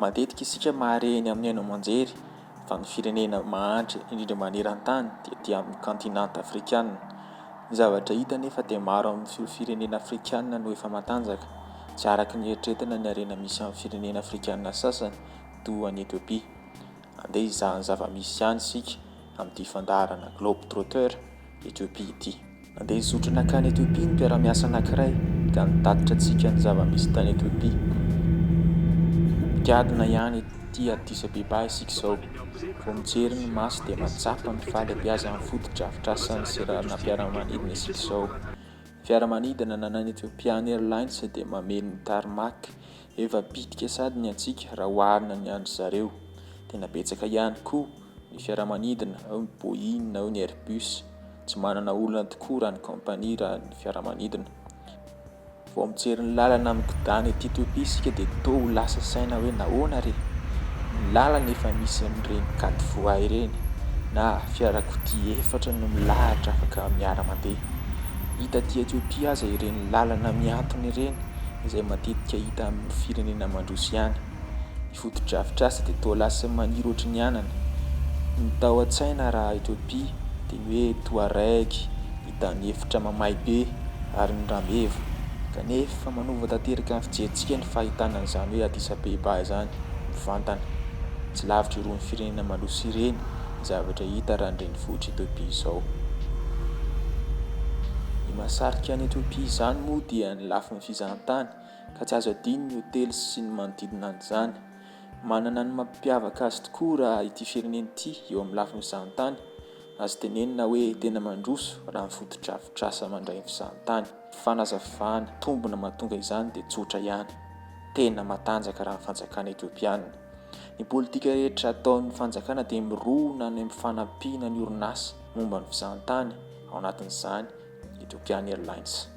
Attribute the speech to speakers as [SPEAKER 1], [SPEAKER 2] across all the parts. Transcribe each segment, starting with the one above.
[SPEAKER 1] Matetika isika mahare eny amin'ny haino aman-jery fa ny firenena mahantra indrindra maneran-tany dia aty amin'ny kaontinanta afrikana. Ny zavatra hita anefa dia maro amin'ireo firenena afrikana no efa matanjaka, tsy araka ny eritreretana ny harena misy amin'ny firenena afrikana sasany toa an'i Etiopia. Andeha hizaha ny zava-misy any isika amin'ity fandaharana Globe Trotter Ethiopie ity. Andeha hizotra nankany Ethiopie ny mpiara-miasa anankiray ka nitatitra antsika ny zava-misy tany Ethiopie. Gadona ihany ity Addis Abeba isika izao. Vao mijery ny maso dia mahatsapa ny fahalebiazan'ny fotodrafitrasan'ny seranam-piaramanidina isika izao. Ny fiaramanidina ananan'ny Ethiopian Airlines dia mameno ny tarmac Efa bitika sady ny antsika raha oharina ny an-dry zareo. Tena betsaka ihany koa ny fiaramanidina, ao ny Boeing, ao ny Airbus. Tsy manana olana tokoa raha ny kaompania raha ny fiaramanidina. Vao mijery ny lalana migodàna ety Ethiopia isika dia toa ho lasa saina hoe nahoana re? Ny lalana efa misy an'ireny quatre voies ireny na fiarakodia efatra no milahatra afaka miara-mandeha. Hita aty Ethiopia aza ireny lalana mihantona ireny. izay matetika hita amin'ny firenena mandroso ihany. Ny fotodrafitrasa dia toa lasa maniry ohatry ny anana. Ny tao an-tsaina raha Ethiopia dia ny hoe Touareg, ny tany efitra mamay be ary ny rameva. Kanefa manova tanteraka ny fijerintsika ny fahitana an'izany hoe Addis Abeba izany mivantana. Tsy lavitra irony firenena mandroso ireny ny zavatra hita raha ny renivohitr'i Ethiopia izao. Ny mahasarika an'i Ethiopia izany moa dia ny. ny lafiny fizahantany, ka tsy azo adino ny hotely sy ny manodidina an'izany. Manana ny mampiavaka azy tokoa raha ity firenena ity eo amin'ny lafiny fizahantany, azo tenenina hoe tena mandroso raha ny fotodrafitrasa mandray ny fizahantany. Fanazavana, tombony mahatonga izany dia tsotra ihany, tena matanjaka raha ny fanjakana Ethiopiana. Ny politika rehetra ataon'ny fanjakana dia mirona any amin'ny fanampiana ny orinasa momba ny fizahantany, ao anatin'izany, Ethiopian Airlines.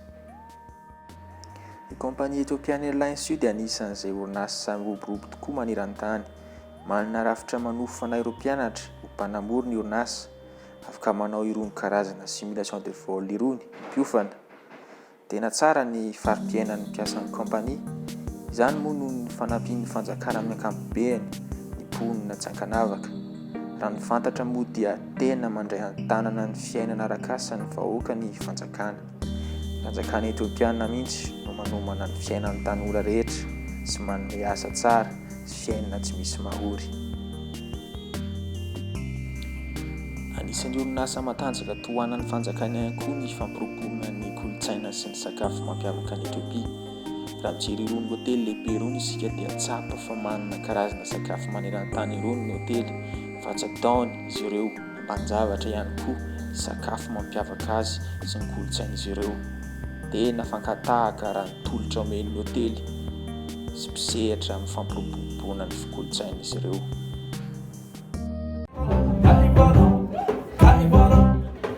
[SPEAKER 1] Ny kaompania Ethiopian Airlines io dia anisan'izay orinasa miroborobo tokoa maneran-tany. Manana rafitra manofana ireo mpianatra ho mpanamory ny orinasa. Afaka manao irony karazana simulation de vol irony ny mpiofana. Tena tsara ny fari-piainan'ny mpiasan'ny kaompania. Izany moa noho ny fanampian'ny fanjakana amin'ny ankapobeny ny mponina tsy ankanavaka. Raha ny fantatra moa dia tena mandray an-tanana ny fiainana arakasan'ny vahoaka ny fanjakana. Ny fanjakana Etiopiana mihitsy no manomana ny fiainan'ny tanora rehetra sy manome asa tsara sy fiainana tsy misy mahory. Anisan'ny orinasa matanjaka tohanan'ny fanjakana ihany koa ny fampirobona ny kolontsaina sy ny sakafo mampiavaka an'i Etiopia. Raha mijery irony hotely lehibe irony isika dia tsapa fa manana karazana sakafo maneran-tany irony ny hotely fa tsy ataony izy ireo ambanin-javatra ihany koa ny sakafo mampiavaka azy sy ny kolontsain'izy ireo. Tena fankatahaka raha ny tolotra omen'ny hotely sy mpisehatra amin'ny fampiroboroboana ny kolontsain'izy ireo.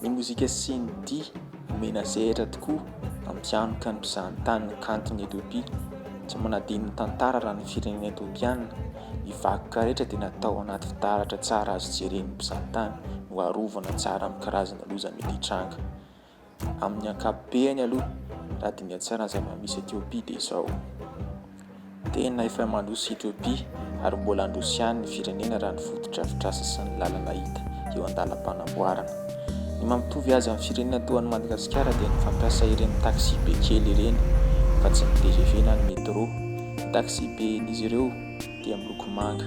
[SPEAKER 1] Ny mozika sy ny dihy omena sehatra tokoa ampianoka ny mpizahantany ny kanton'i Ethiopia. Tsy manadino ny tantara raha ny firenena Ethiopiana, ny vakoka rehetra dia natao anaty fitaratra tsara azo jeren'ny mpizahantany no arovana tsara amin'ny karazana loza mety hitranga. Amin'ny ankapobeny aloha, raha diniha tsara ny zava-misy Ethiopia dia izao. Tena efa mandroso i Ethiopia ary mbola handroso ihany ny firenena raha ny fotodrafitrasa sy ny lalana hita eo an-dalam-panamboarana. Ny maha mitovy azy amin'ny firenena toa an'i Madagasikara dia ny fampiasa ireny taxi be kely ireny fa tsy ny tgv na ny metro. Ny taxi be n'izy ireo dia miloko manga.